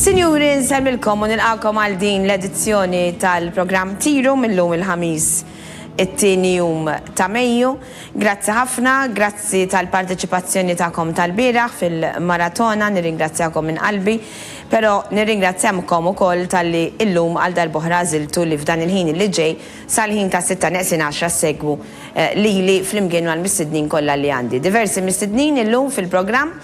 Sinjuri, nsellmilkom u nilqakom għal din l-edizzjoni tal-programm Tiru mill-lum il-Ħamis it-tieni jum ta' Mejju. Grazzi ħafna, grazzi tal-parteċipazzjoni tagħkom tal-bieraħ fil-maratona, nirringrazzjakom minn qalbi, però nirringrazzjamkom ukoll talli illum għal darb'oħra għażiltu li f'dan il-ħin li ġej Sal-ħin tas-sitta neqsin għaxra ssegwu lili flimkien mal-mistednin kollha li għandi. Diversi mistednin illum fil-programm,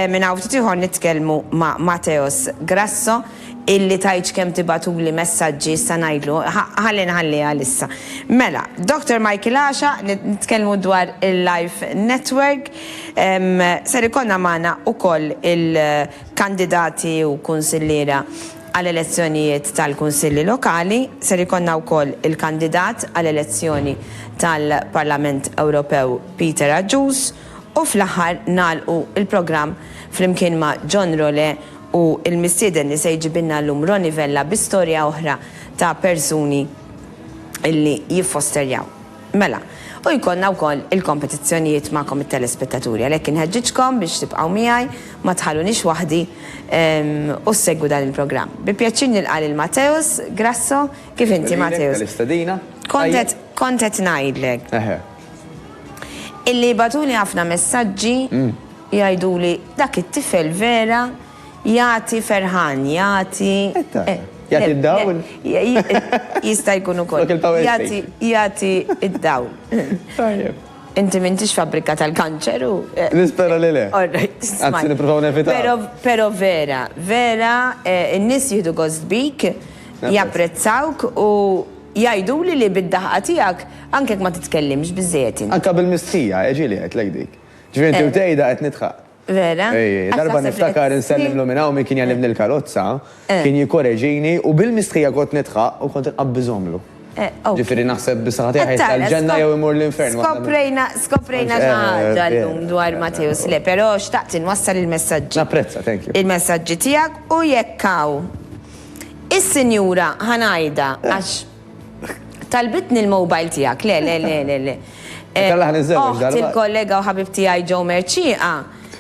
minn hawn ftit ieħor nitkellmu ma' Mateos Grasso illi tgħidx kemm tibgħatuli messaġġi issa ngħidlu, ħalli nħallih għal issa. Mela, Doctor Michael Għaxa, nitkellmu dwar il-Life Network, ser ikollna magħna wkoll il-kandidati u kunsilliera, Għal elezzjonijiet tal-Kunsilli Lokali ser ikollna wkoll il-kandidat għal elezzjoni tal-Parlament Ewropew Peter Agius u fl-aħħar nagħlqu l-programm flimkien ma' John Role u l-mistieden li se jġibilna llum Ronnie Vella bi storja oħra ta' persuni li jiffosterjaw. Mela, u jkollna wkoll il-kompetizzjonijiet magħkom it-telespettaturi, għalhekk inħeġġiġkom biex tibqgħu miegħi, ma tħalluniex waħdi u ssegwu dan il-programm. Bi pjaċir nilqa' lil Mateusz Grasso, kif inti Mateusz? Grazzi lilek tal-istedina. Kont qed ngħidlek illi jibgħatuli ħafna messaġġi jgħiduli dak it-tifel vera Jagħti ferħan, jagħti. Jagħti d-dawl? Jista' jkun ukoll. Jagħti d-dawl. Tajjeb. Inti m'intix fabbrika tal-kanċer u. Nispera li le. All right. Anzi, nippruvaw nevitaw. Però vera, vera, in-nies jieħdu gost bik, japprezzawk u jgħiduli li bid-daħqa tiegħek anke jekk ma titkellimx biżżejjed int. Anke bil-mistħija, ġieli għedtlek dik. Ġifieri inti u tgħidha qed nidħaq. Vera? Ej, darba niftakar insellim lil minn hawn min kien jgħallimni l-karozza, kien jikkoreġini u bil-mistħija kont nidħaq u kont inqabb iżommlu. Ġifieri naħseb bis-saħħa tiegħi ħajr sal-ġenna jew imur l-infern. Skoprejna, skoprejna xi ħaġa llum dwar Matteus, le, però xtaqt inwassal il-messaġġi. Napprezza, thank you. Il-messaġġi tiegħek u jekk hawn is-Sinjura Ħanajda għax. Talbitni l-mobile tiegħek, le, le, le, le, le. Oħt il-kollega u ħabib tiegħi Joe Mercieqa,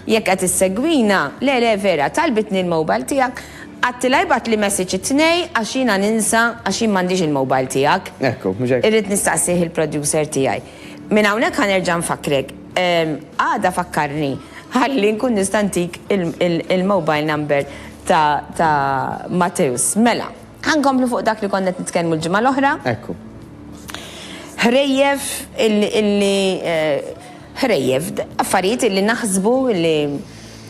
jekk qed issegwina, le, le, vera, talbitni l-mobile tiegħek, għadtilha jbagħtli messaġġ it-Tnejn għax jiena ninsa għax jien m'għandix il-mobile tiegħek. Ekku, mhux hekk? Irrid nistaqsih il-producer tiegħi. Minn hawnhekk ħa nerġa' nfakkrek. Għada fakkarni ħalli nkun nista' ntik il-mobile number ta' Matteus. Mela. Ħa nkomplu fuq dak li konna qed nitkellmu l-ġimgħa l-oħra. Ekku. Ħrejjef illi ħrejjef affarijiet illi naħsbu illi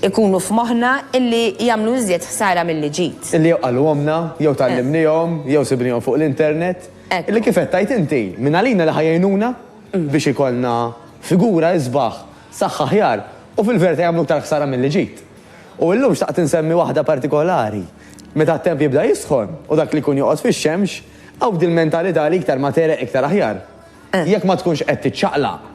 ikunu f'moħħna illi jagħmlu iżjed ħsara milli ġid. Illi jew qalhomna, jew tgħallimnihom, jew sibnihom fuq l-internet. Illi kif qed tgħid inti, minn għalina li ħa jgħinuna biex ikollna figura isbaħ, saħħa aħjar u fil-verità jagħmlu iktar ħsara milli ġid. U illum xtaqt insemmi waħda partikolari. Meta t-temp jibda jisħon u dak li jkun joqgħod fix-xemx, hawn dil-mentalità li iktar ma tegħreq iktar aħjar. Jekk ma tkunx qed tiċċaqlaq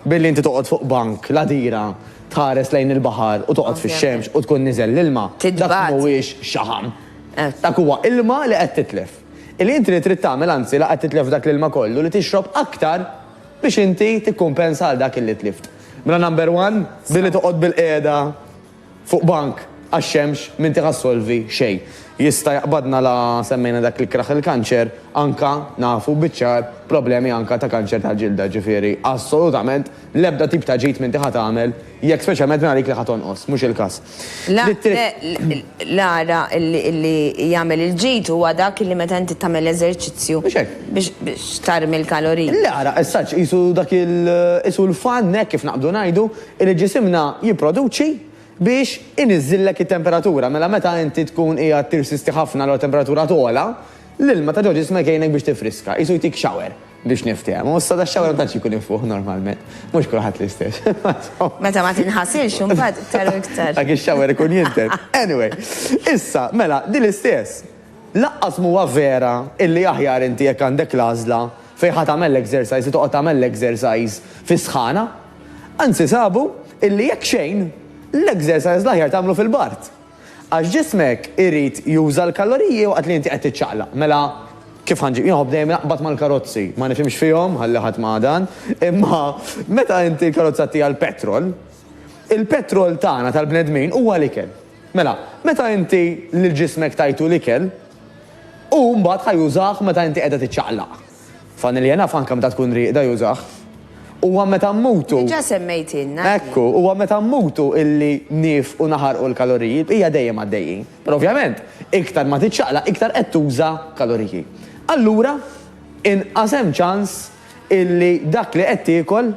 billi inti toqgħod fuq bank, ladira, tħares lejn il-baħar u toqgħod fix-xemx u tkun niżel l-ilma, dak mhuwiex xaħam. Dak huwa ilma li qed titlef. Illi inti li trid tagħmel anzi la qed titlef dak l-ilma kollu li tixrob aktar biex inti tikkumpensa għal dak illi tlift. Mela number one, billi toqgħod bilqiegħda fuq bank għax-xemx m'inti ħa ssolvi xejn. Jista' jaqbadna la semmejna dak l-ikraħ il-kanċer, anka nafu biċ-ċar problemi anka ta' kanċer tal-ġilda, ġifieri assolutament l-ebda tip ta' ġid m'inti ħa tagħmel jekk speċjalment mingħajr dik li ħa tonqos, mhux il-każ. L-ara li jagħmel il-ġid huwa dak li meta inti tagħmel eżerċizzju biex tarmi l-kaloriji. L-ara, as such, qisu dak il, qisu l-fan, hekk kif naqbdu ngħidu, li ġisimna jipproduċi biex iniżżillek it-temperatura. Mela meta inti tkun qiegħed tirsisti ħafna allura t-temperatura togħla, l-ilma ta' ġo ġismek jgħinek biex tifriska, qisu jtik shower. Biex niftehmu, issa da xawra ma tantx ikun infuħ normalment. Mhux kulħadd l-istess. Meta ma tinħasilx imbagħad iktar u iktar. Dak ix-xawar ikun jinten. Anyway, issa mela din l-istess. Laqqas mhuwa vera illi aħjar inti jekk għandek l-għażla fejn ħa tagħmel l-exercise li toqgħod tagħmel l-exercise fis-sħana. Anzi sabu illi jekk xejn, l-exercise l-aħjar tagħmlu fil-bard. Għax ġismek irid juża l-kaloriji waqt li inti qed tiċċaqlaq. Mela kif ħa nġib? Jien nħobb dejjem naqbad mal-karozzi. Ma nifhimx fihom, ħalli ħadd ma dan. Imma meta inti l-karozza ttiha l-petrol, il-petrol tagħna tal-bnedmin huwa l-ikel. Mela, meta inti lil ġismek tajtu l-ikel, hu mbagħad ħa jużah meta inti qiegħda tiċċaqlaq. Familja naf anke meta tkun rieqda jużah. Huwa meta mmutu. Diġà semmejtilna. Ekku, huwa meta mmutu illi niefqu naħarqu l-kaloriji, l-bqija dejjem għaddejjin. Però ovvjament, iktar ma tiċċaqlaq iktar qed tuża kaloriji. Allura, inqas hemm ċans illi dak li qed tiekol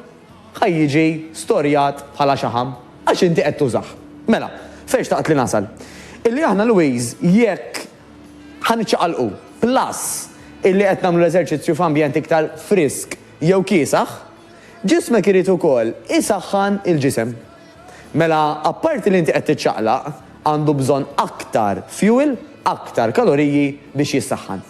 ħa jiġi storjat bħala xaħam għax inti qed tużah. Mela, fejn xtaqt li nasal? Illi aħna Louise jekk Ħa niċċaqalqu. Plus, illi qed nagħmlu l-eżerċizzju f'ambjent iktar frisk jew kiesaħ, ġismek irid ukoll isaħħan il-ġisem. Mela, apparti li inti qed tiċċaqlaq, għandu bżonn aktar fuel, aktar kaloriji biex jissaħħan.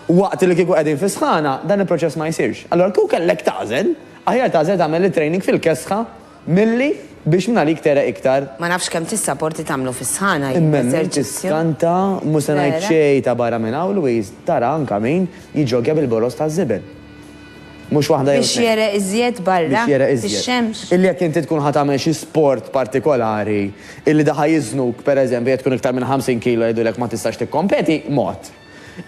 Waqt li kieku qegħdin fis-sħana, dan il-proċess ma jsirx. Allura kieku kellek tagħżel, aħjar tagħżel tagħmel it-training fil-kesħa Milli biex mingħalik tegħreq iktar. Ma nafx kemm tissaporti tagħmlu fis-sħana jew l-eżerċizzju. Imma minn tiskanta, mhu se ngħid xejn ta' barra minn hawn Louise, tara anke min jiġġoggja bil-boroż taż-żiben. Mhux waħda jew tnejn. Biex jegħreq iżjed barra? Biex jegħreq iżjed. Fix-xemx? Illi jekk inti tkun ħa tagħmel xi sport partikolari, illi da ħa jiżnuk, pereżempju jekk tkun iktar minn 50 kilo jgħidulek ma tistax tikkompeti, mod.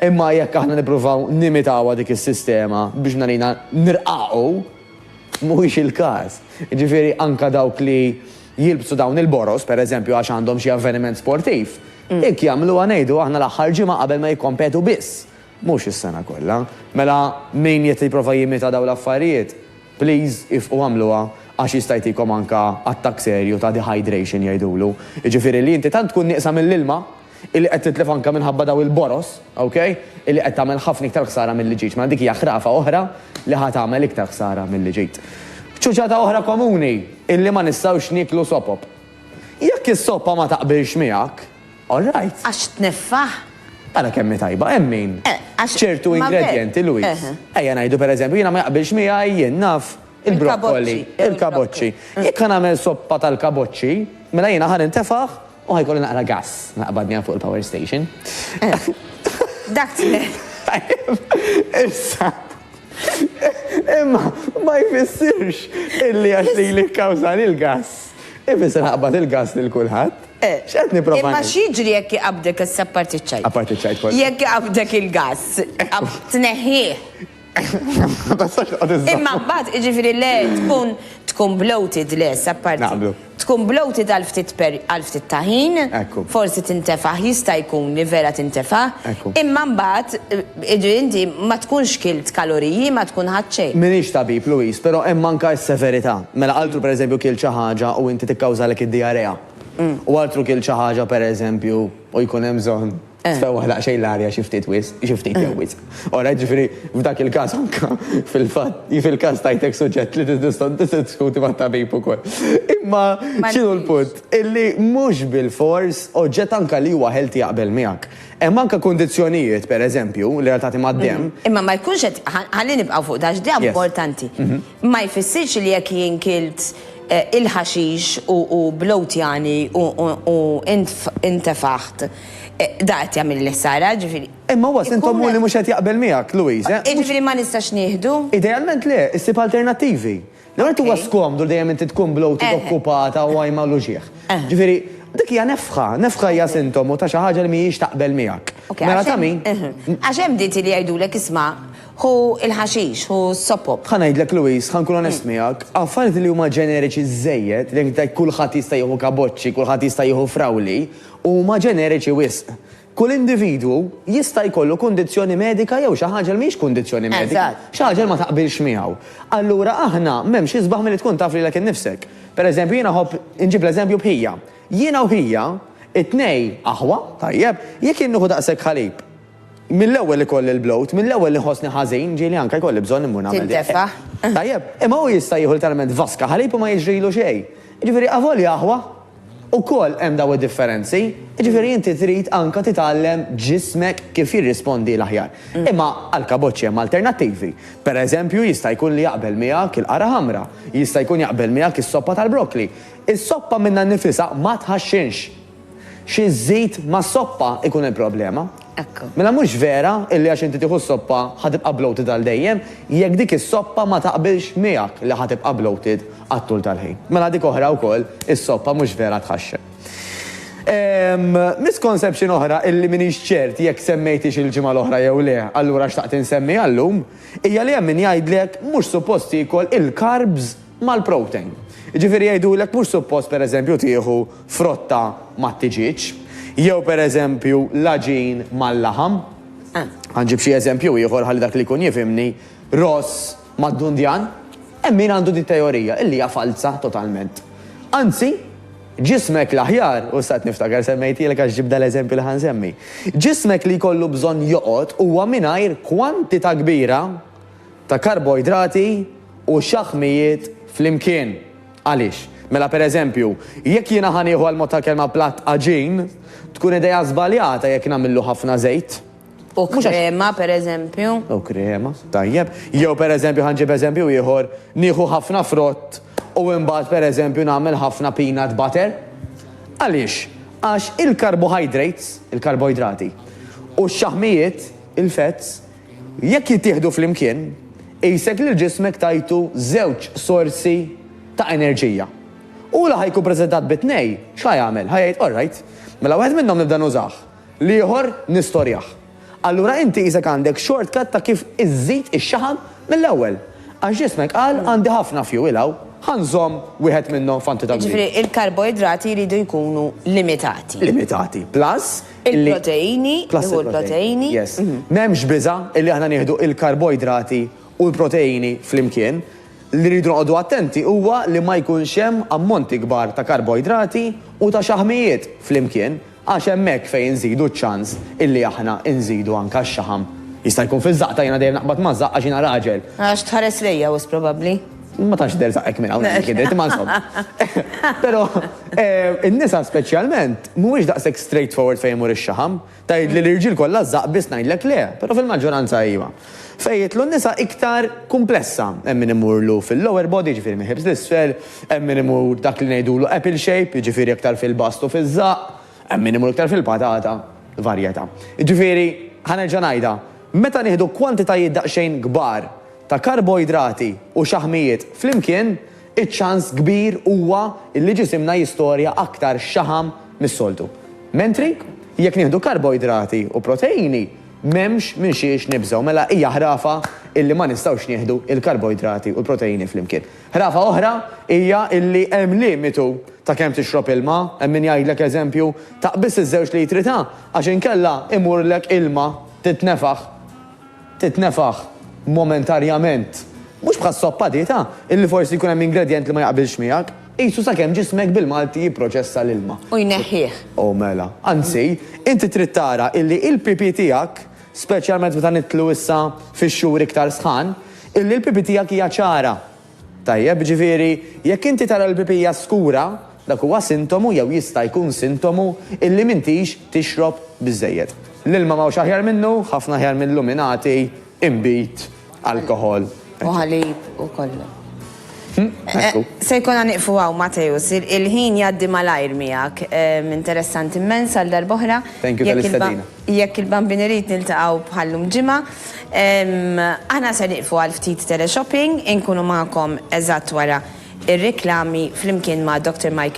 Imma jekk aħna nippruvaw nimitawha dik is-sistema biex mingħalina nirqaqu, Mhuwiex il-każ. Jiġifieri anke dawk li jilbsu dawn il-boroż, pereżempju għax għandhom xi avveniment sportiv, hekk jagħmluha ngħidu aħna l-aħħar ġimgħa qabel ma jikkompetu biss, mhux is-sena kollha. Mela min qed jipprova jimita dawn l-affarijiet, please ifqu agħmluha għax jista' jtikom anke attakk serju ta' dehydration jgħidulu. Jiġifieri li inti tant tkun nieqsa mill-ilma illi qed titlef anke minħabba dawn il-boroż, ok, illi qed tagħmel ħafna iktar ħsara milli ġid. Mela dik hija ħrafa oħra li ħa tagħmel iktar ħsara milli ġid. Ċuċata oħra komuni, illi ma nistgħux nieklu sopop. Jekk is-soppa ma taqbilx miegħek, all right. Għax tneffah? Ara kemm hi tajba, hemm min. Eh, għax. Ċertu ma ve- ingredjenti Louis. Eh, eh. Ejja ngħidu pereżempju jiena ma jaqbilx miegħi jien naf il-brokkoli, Il-kaboċċi, il-kaboċċi. Jekk ħa nagħmel soppa tal-kaboċċi, mela jiena ħa nintefaħ U ħajkolli naqra gass naqbadni hawn fuq il-power station. Dak tmien. Tajjeb, issa. Imma ma jfissirx illi għax li li kkawżani l-gass. Ifisser ħaqbad il-gass lil kulħadd. Eh, X'qed nipprova Imma ngħid? x'jiġri jekk iqabdek issa parti ċajt? Apparti ċajt kollu. Jekk iqabdek il-gass, tneħħih. Imma mbagħad jiġifieri le tkun tkun bloated le, apparti. Naqblu. Tkun bloated għal ftit per għal ftit ta' ħin. Ekku. Forsi tintefaħ, jista' jkun li vera tintefaħ. Ekku. Imma mbagħad jiġri inti ma tkunx kilt kaloriji, ma tkun ħadt xejn. M'iniex tabib, Louise, però hemm anke s-severità. Mela altru pereżempju kilt xi ħaġa u inti tikkawżalek id-diarrea. U altru kilt xi ħaġa pereżempju u jkun hemm bżonn. Tfewwaħ daqsxejn l-arja xi ftit wisq, xi ftit jew wisq. Ora, jiġifieri f'dak il-każ anke fil-fatt, fil-każ tajtek suġġett li tiddiskuti mat-tabib ukoll. Imma x'inhu l-punt? Illi mhux bilfors oġġett anke li huwa healthy jaqbel miegħek. Hemm anke kundizzjonijiet, per eżempju, relatati mad-demm. Imma ma jkunx qed, ħalli nibqgħu fuq dan għax dejja importanti. Ma jfissirx li jekk jien kilt il-ħaxix u blowtjani u intefaħt, Da qed jagħmel li Sara, ġifieri. Imma huwa sintomu li mhux qed jaqbel miegħek, Louise, eh? Jiġifieri ma nistax nieħdu? Idealment le, issib alternattivi. L-ewwel nett huwa skomdu li dejjem inti tkun bloated, okkupata u għajma l uġigħ. Ġifieri, dik hija nefħa, nefħa hija sintomu ta' xi ħaġa li mhijiex taqbel miegħek. Mela ta' min? Għax hemm dieti li jgħidulek isma', ħu l-ħaxix, ħu s-sopop. Ħa ngħidlek, Louise, ħa nkun onest miegħek, affarijiet li huma ġeneriċi żżejjed, li jekk tgħid kulħadd jista' jieħu kaboċċi, kulħadd jista' jieħu frawli, huma ġeneriċi wisq. Kull individwu jista' jkollu kundizzjoni medika jew xi ħaġa li mhijiex kundizzjoni medika, xi ħaġa li ma taqbilx miegħu. Allura aħna m'hemmx isbaħ milli tkun taf lilek innifsek. Pereżempju jiena nħobb inġib l-eżempju b'Hija. Jiena u Hija, it-tnej aħwa, tajjeb, jekk jien nieħu daqshekk ħalib, mill-ewwel ikolli l-bloat, mill-ewwel li nħossni ħażin, ġieli anke jkolli bżonn immur nagħmel dik. Tintefa'. Tajjeb, imma hu jista' jieħu letteralment vaska ħalib u ma jiġrilu xejn. Jiġifieri avolja aħwa, Ukoll hemm daw id-differenzi, jiġifieri inti trid anke titgħallem ġismek kif jirrispondi l-aħjar. Imma għall-kaboċċi hemm alternattivi. Per eżempju jista' jkun li jaqbel miegħek il-qara ħamra, jista' jkun jaqbel miegħek is-soppa tal-brokkli. Is-soppa minnha nnifisha ma tħaxxinx. Xi żżid mas-soppa jkun il-problema. Ekk. Mela mhux vera illi għax inti tieħu s-soppa ħa tibqa' bloated għal dejjem, jekk dik is-soppa ma taqbilx miegħek li ħa tibqa' bloated għat-tul tal-ħin. Mela dik oħra wkoll, is-soppa mhux vera tħaxxen. Ehm, misconception oħra illi m'iniex ċert jekk semmejthiex il-ġimgħa l-oħra jew le, allura xtaqt insemmiha llum, hija li hemm min jgħidlek mhux suppost tiekol il-carbs mal-protein. Jiġifieri jgħidulek mhux suppost pereżempju tieħu frotta mat-tiġieġ, jew pereżempju l-għaġin mal-laħam. Ħa nġib xi eżempju ieħor ħalli dak li jkun jifhimni, ross mad-dundjan. Hemm min għandu din it-teorija, illi hija falza totalment. Anzi, ġismek l-aħjar, u issa qed niftakar semmejtielek għax ġibt dal-eżempju li ħa nsemmi, ġismek li jkollu bżonn joqgħod huwa mingħajr kwantità kbira ta' karboidrati u xaħmijiet flimkien. Għaliex? Mela per eżempju, jekk jiena ħa nieħu għall-mod tal-kelma platt għaġin, tkun idea żbaljata jekk nagħmillu ħafna żejt. U krema per eżempju. U krema, tajjeb. Jew per eżempju ħa nġib eżempju ieħor, nieħu ħafna frott u imbagħad per eżempju nagħmel ħafna peanut butter. Għaliex? Għax il-carbohydrates, il-karboidrati, u x-xaħmijiet, il-fats, Jekk jittieħdu flimkien, qisek lil ġismek tajtu żewġ sorsi ta' enerġija. U li ħa jkun preżentat bi tnej, x'ħa jagħmel? Ħa jgħid, Orrajt, mela wieħed minnhom nibda nużah, l-ieħor nistorjah. Allura inti qisek għandek shortcut ta' kif iżżid ix-xaħam mill-ewwel. Għax ġismek qal għandi ħafna fuel hawn, ħa nżomm wieħed minnhom f'antità kbira. Jiġifieri l-karboidrati jridu jkunu limitati. Limitati. Plus, Il-proteini, nieħu l-proteini. Yes. Mhm. M'hemmx biża' illi aħna nieħdu il-karboidrati u l-proteini flimkien. Li rridu noqogħdu attenti huwa li ma jkunx hemm ammonti kbar ta' karboidrati u ta' xaħmijiet flimkien għax hemmhekk fejn inżidu ċ-ċans illi aħna nżidu anka x-xaħam. Jista' jkun fiż-żaqta jiena dejjem naqbad maż-żaqq għax jiena raġel. Għax tħares lejja wisq probabbli. Ma tantx tidher żaqqek minn hawn hekk jidher, imma insomma. Però eh, in-nisa speċjalment Mhuwiex daqshekk straight forward fejn imur ix-xaħam. Tgħidli l-irġiel kollha żżaqq biss ngħidlek le, però fil-maġġoranza iva. Fejn jidħlu n-nisa iktar kumplessa, hemm min imurlu fil-lower body, jiġifieri mill-hips 'l isfel, hemm min imur dak li ngħidulu apple shape, jiġifieri iktar fil-bast u fiż-żaqq, hemm min imur iktar fil-patata, varjetà. Jiġifieri, ħa nerġa' ngħidha, meta nieħdu kwantitajiet daqsxejn kbar ta' karboidrati u xaħmijiet flimkien, iċ-ċans kbir huwa li ġisimna jistorja aktar xaħam mis-soltu. Mentri, jekk nieħdu karboidrati u proteini, m'hemmx minn xiex nibżgħu. Mela hija ħrafa illi ma nistgħux nieħdu l-karboidrati u l-proteini flimkien. Ħrafa oħra hija illi hemm limitu ta' kemm tixrob ilma. Hemm min jgħidlek eżempju, taq biss iż-żewġ litri ta' għax inkella imurlek ilma titnefaħ. titnefaħ momentarjament, mhux bħas-soppa dieta, illi forsi jkun hemm ingredjent li ma jaqbilx miegħek, qisu sakemm ġismek bil-Malti jipproċessa l-ilma. U jneħħih. O mela. Anzi, inti trid tara illi il-pipi tiegħek, speċjalment meta nidħlu issa fix-xhur iktar sħan, illi l-pipi tiegħek hija ċara. Tajjeb, ġifieri, jekk inti tara l-pipija skura, dak huwa sintomu jew jista' jkun sintomu illi m'intix tixrob biżżejjed. L-ilma m'hawnx aħjar minnu, ħafna aħjar minn luminati, inbid, alkoħol, eċċetera. U ħalib u kollu. Ekku. Se jkollna nieqfu hawn, Mateusz. Il-ħin jgħaddi malajr miegħek. Interessanti mmens għal darb'oħra. Thank you tal-istedina. Jekk il-Bambin irid niltaqgħu bħal llum ġimgħa, aħna se nieqfu għal ftit teleshopping, inkunu magħkom eżatt wara r-riklami flimkien ma' Doctor Michael.